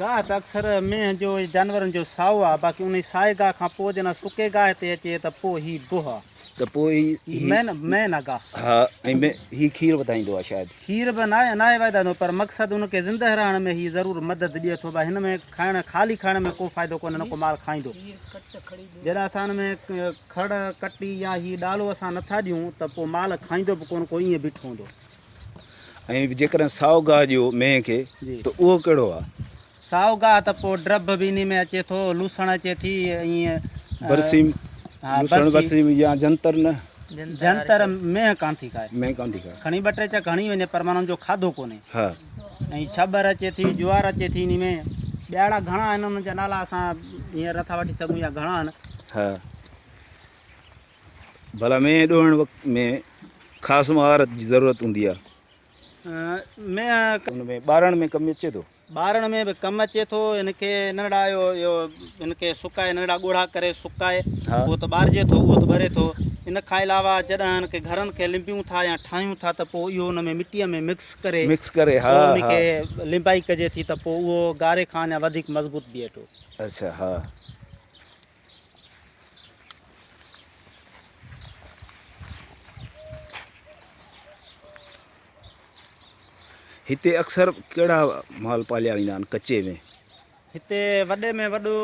گاهه ته اڪثر مينهن جو يا جانورن جو سائو آهي، باقي انهي سائي گاهه کان پوء جڏهن سڪي گاهه تي اچي ته پوء هي بوهه آهي. ته پوء هي هي مين مين آهي گاهه. ها ۽ مين هي کير وڌائيندو آهي شايد. کير به ناهي ناهي وائدائندو پر مقصد ان کي زنده رهڻ ۾ هي ضرور مدد ڏئي ٿو ڀائي هن ۾ کائڻ خالي کائڻ ۾ ڪو فائدو ڪونهي نه ڪو مال کائيندو جڏهن اسان ان ۾ کڙ ڪٽي يا هي ڏالو اسان نٿا ڏيون ته پوء مال کائيندو به ڪونهه ڪو ائين بيٺو هوندو. ۽ به جيڪڏهن سائو گاهه ڏيو مينهن کي ته اهو ڪهڙو آ؟ سائو گاهه ته پوء ڊرڀ به انهي ۾ اچي ٿو، لوسڻ اچي ٿي ۽ برسيم، لوسڻ برسيم يا جنتر نه. جنتر مينهن ڪانه ٿي کائي. مينهن ڪانه ٿي کائي. کڻي ٻه ٽي چڪ هڻي وڃي پر معنيٰ ان جو کاڌو ڪونهي. ها. ۽ ڇٻر اچي ٿي، جوار اچي ٿي انهي ۾. ٻيا اهڙا گهڻا آهن انهن جا نالا اسان هينئر نٿا وٺي سگهون يا گهڻا آهن. ها. ڀلا مينهن ڏوهڻ وقت ۾ خاص مهارت جي ضرورت هوندي آهي. مينهن. ان ۾ ٻارڻ ۾ ڪم اچي ٿو. ٻارڻ ۾ به ڪم اچي ٿو. هن کي ننڙا اهو اهو هن کي سڪائي ننڙا ڳوڙها ڪري سڪائي اهو ته ٻارجي ٿو اهو ته ٻري ٿو. ان کان علاوه جڏهن هن کي گهرن کي لنبيون ٿا يا ٺاهيون ٿا ته پوء اهو ان ۾ مٽيء ۾ مڪس ڪري مڪس ڪري ها ها ان کي لنبائي ڪجي ٿي ته پوء اهو گاري کان اڃا وڌيڪ مضبوط بيهي ٿو. اڇا ها. هتي اڪثر ڪهڙا مال پاليا ويندا آهن ڪچي ۾؟ هتي وڏي ۾ وڏو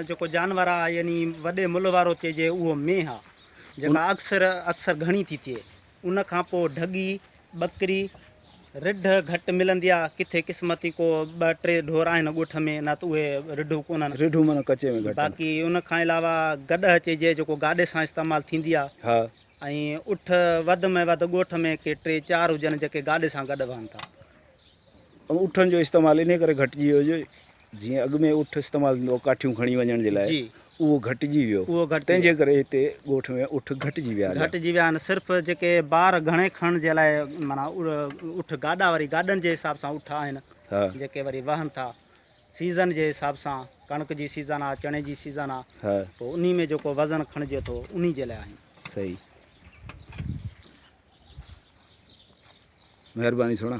جيڪو جانور آهي يعني وڏي ملهه وارو چئجي اهو مينهن آهي جيڪا اڪثر اڪثر گهڻي ٿي ٿئي ان کان پوء ڍڳي، ٻڪري، رڍ گهٽ ملندي آ، ڪٿي قسمتي ڪو ٻه ٽي ڍور آهن ڳوٺ ۾ نه ته اهي رڍون ڪونهن. رڍون معنيٰ ڪچي ۾ گهٽ آهن. باقي ان کان علاوه گڏهه چئجي جيڪو گاڏي سان استعمال ٿيندي آ. ها. ۽ اٺ وڌ ۾ وڌ ڳوٺ ۾ ڪي ٽي چار هجن جيڪي گاڏي سان گڏ وهن ٿا. اٺن جو استعمال انهي ڪري گهٽجي ويو جو جيئن اڳ ۾ اٺ استعمال ٿيندو هو ڪاٺيون کڻي وڃڻ جي لاء جي اهو گهٽجي ويو اهو گهٽجي تنهن جي ڪري هتي ڳوٺ ۾ اٺ گهٽجي ويا آجا گهٽجي ويا آهن صرف جيڪي بار گهڻي کڻڻ جي لاء معنيٰ اٺ گاڏا وري گاڏن جي حساب سان اٺ آهن ها جيڪي وري وهن ٿا سيزن جي حساب سان ڪڻڪ جي سيزن آ چڻي جي سيزن آ ها پوء انهي ۾ جيڪو وزن کڻجي ٿو انهي جي لاء آهن صحيح مهرباني سهڻا